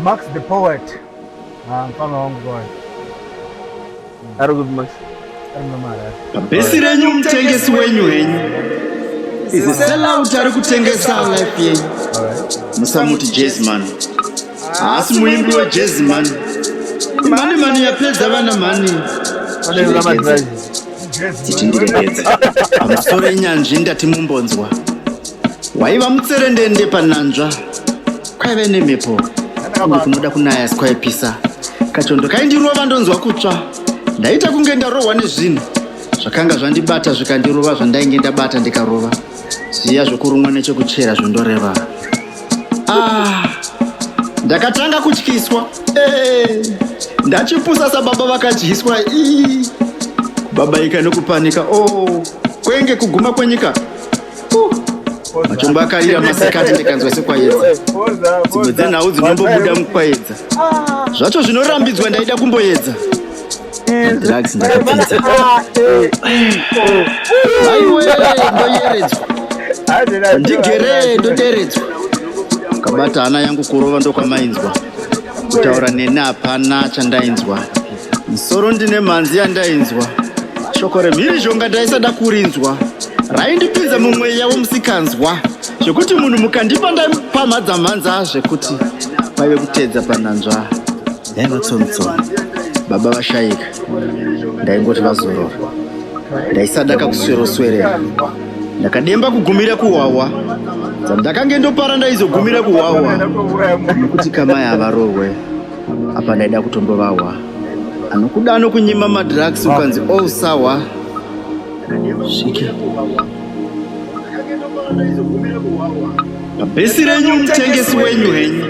Max the poet. Ah, mfano wangu boy. Ari kupi Max? Ari mna mara. Bhesi renyu mutengesi wenyu henyu. Is a sellout ari kutengesa life yenyu. Musamuti Jazzman. Haasi muimbi wa Jazzman. Mani mani yapedza vana mani. Pane vana madrive. Tichindire pedza. Amusoro inyanzvi ndati mumbonzwa. Waiva mutserendende pananzva kwaive nemhepo kunge kunoda kunaya asi kwaipisa. Kachondo kaindirova ndonzwa kutsva. Ndaita kunge ndarohwa nezvinhu zvakanga zvandibata zvikandirova zvandainge ndabata ndikarova. Zviya zvokurumwa nechekuchera zvondoreva. Ah, ndakatanga kutyiswa. Eh, ndachipusa sababa vakadyiswa. Ii, kubabaika nokupanika. Oh, kwenge kuguma kwenyika. machombo akarira masikati ndikanzwa sekwayedza dzimwe dzenhau dzinombobuda mukwayedza zvacho zvinorambidzwa ndaida kumboyedza drugs ndakapinza aiwe ndoyeredzwa ndigere ndoderedzwa kabata hana yangu kurova ndokwamainzwa kutaura neni hapana chandainzwa Musoro ndine mhanzi yandainzwa. Shoko remhirizhonga ndaisada kurinzwa. Raindipinza mumweya womusikanzwa. Zvekuti munhu mukandipa ndaimupamhadza mhanza zvekuti kwaive kuteedza panhanzva. Yaiva tsomutsomu. Baba vashaika. Ndaingoti vazorora. Ndaisada kakusweroswerera. Ndakademba kugumira kuhwahwa. Dzandakange ndopara ndaizogumira kuhwahwa. Nekuti kamai havarohwe. apa ndaida kutombovahwa anokuda anokunyima madrugs ukanzi all oh, sawa sviki pabhesi renyu mutengesi wenyu henyu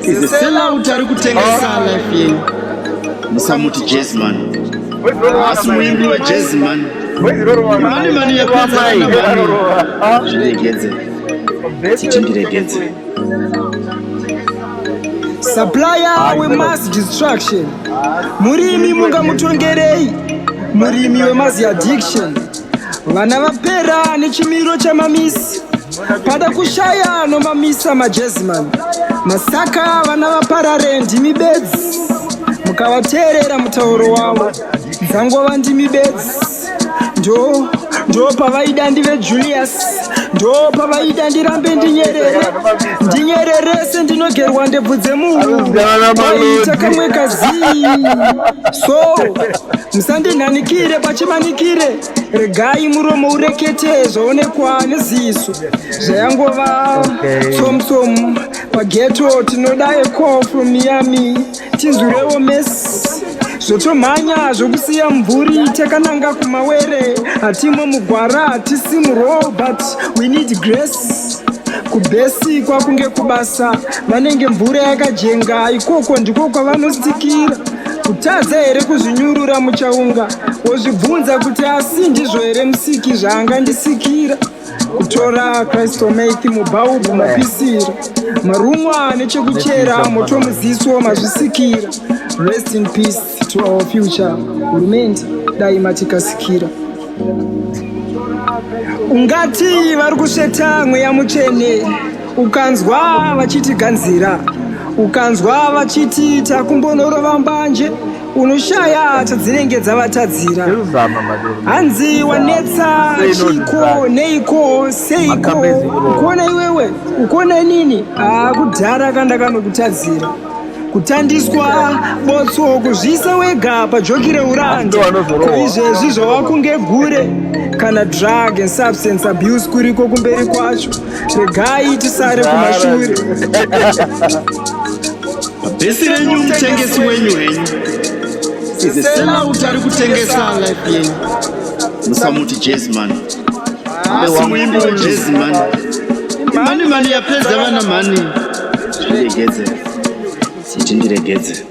izeselauti ari kutengesa ah. life yenyu musamuti jasman asi muimbi wejasman mani mani yekuaaaairegedze titi ndiregedze supplier wemass destruction murimi mungamutongerei murimi wemass addiction vana vapera nechimiro chamamisi pada kushaya nomamisa majeziman masaka vana vaparare ndimi bedzi mukavateerera mutauro wavo dzangova ndimi bedzi ndo ndo pavaida ndive julius ndo pavaida ndirambe ndinyerere ndinyererese ndinogerwa ndebvu dzemunhu aiita kamwe kazii so musandinhanikire pachimanikire regai muromo urekete zvaonekwa neziso zvayangova tsomu tsomu pageto tinoda eko from miami tizurewo mesi zvotomhanya zvokusiya mvuri takananga kumawere hatimwe mugwara hatisi muroll but we need grace kubhesi kwakunge kubasa vanenge mvura yakajenga ikoko ndiko kwavanosikira kutadza here kuzvinyurura muchaunga wozvibvunza kuti asi ndizvo here musiki zvaangandisikira kutora christomate mubhaubhu mapisira marumwa nechekuchera moto muziso mazvisikira rest in peace to our future hurumende dai matikasikira ungati vari kusveta mweya mutsvene ukanzwa vachiti ganzira ukanzwa vachiti takumbonorova mbanje unoshaya chadzinenge dzavatadzira hanzi wanetsa chiiko neiko seiko ukuona iwewe ukuona inini haa kudhara kandakanokutadzira kutandiswa botso kuzviisa wega pajoki reuranda koizvezvi zvavakunge gure kana drug and substance abuse kuriko kumberi kwacho regai tisare kumashure bhesi renyu mutengesi wenyu henyu izeselauti ari kutengesa life yenyu musamuti jezman asi muimbi wejezman mani mani yapedza vana mani zviregedze siti ndiregedze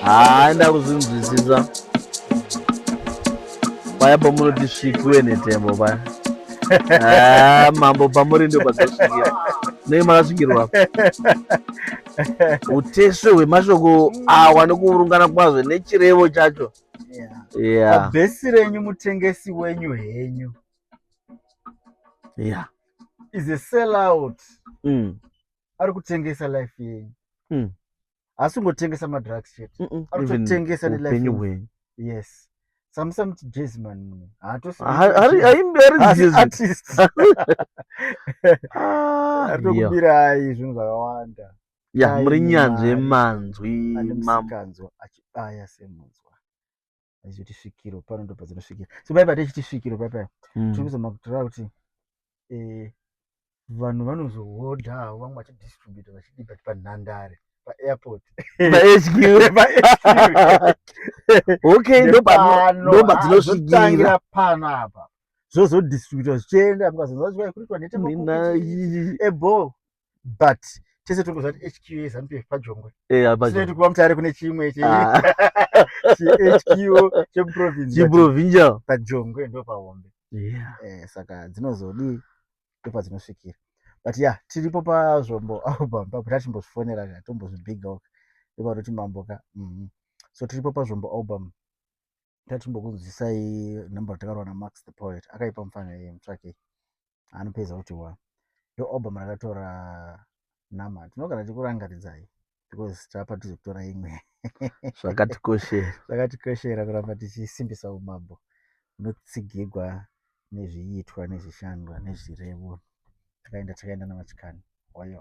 haa ndakuzvinzwisisa paya pamunoti svikiwe netembo paya mambo pamuri ndo padzasvikira nei makasvikirwa utesve hwemashoko awa nekuurungana kwazvo nechirevo chacho yeah. bhesi renyu mutengesi wenyu henyu yeah. is a sell out mm. ari kutengesa life yenyu mm. haasi kungotengesa madrugs chete mm -mm. ari kutotengesa nelife yenyu yes samusa muti jazz man mune haatosiatokubirai ah, zvinhu zvakawanda ya muri nyanzvi yemanzwi makanzwa achibaya semunzwa achizoti svikiro pano ndo padzinosvikira so pai patechiti svikiro pai pai hmm. tiri kuzama kutora kuti eh, vanhu vanozohodha havo vamwe vachidistributa vachidi but panhandare paairport okay ndopadzinosvikira pano apa zvozodistributa zvichienda mukazonzaa kuitwa neteebho but tese totoziva kuti hq yezanup pf pajongwe sinoiti kuva mutare kune chimwe chehq ah. chemuprovincial pajongwe ndo pahombe eh, saka dzinozodii ndopadzinosvikira but ya tiripo pazvombo album papo tatimbozvifonera ka tombozvibigok ndopanoti mambo ka mhm. so tiripo pazvombo album tatimbokunzwisai number takarowa namax the poet akaipa mufana yeye mutsvakei anopedza kuti wa ndo obama rakatora nama tinogara tikurangaridzai because tapa tizokutora imwe zvakatikoshera zvakatikoshera kuramba tichisimbisa umambo unotsigirwa nezviitwa nezvishandwa nezvirevo takaenda takaenda namachikani wayo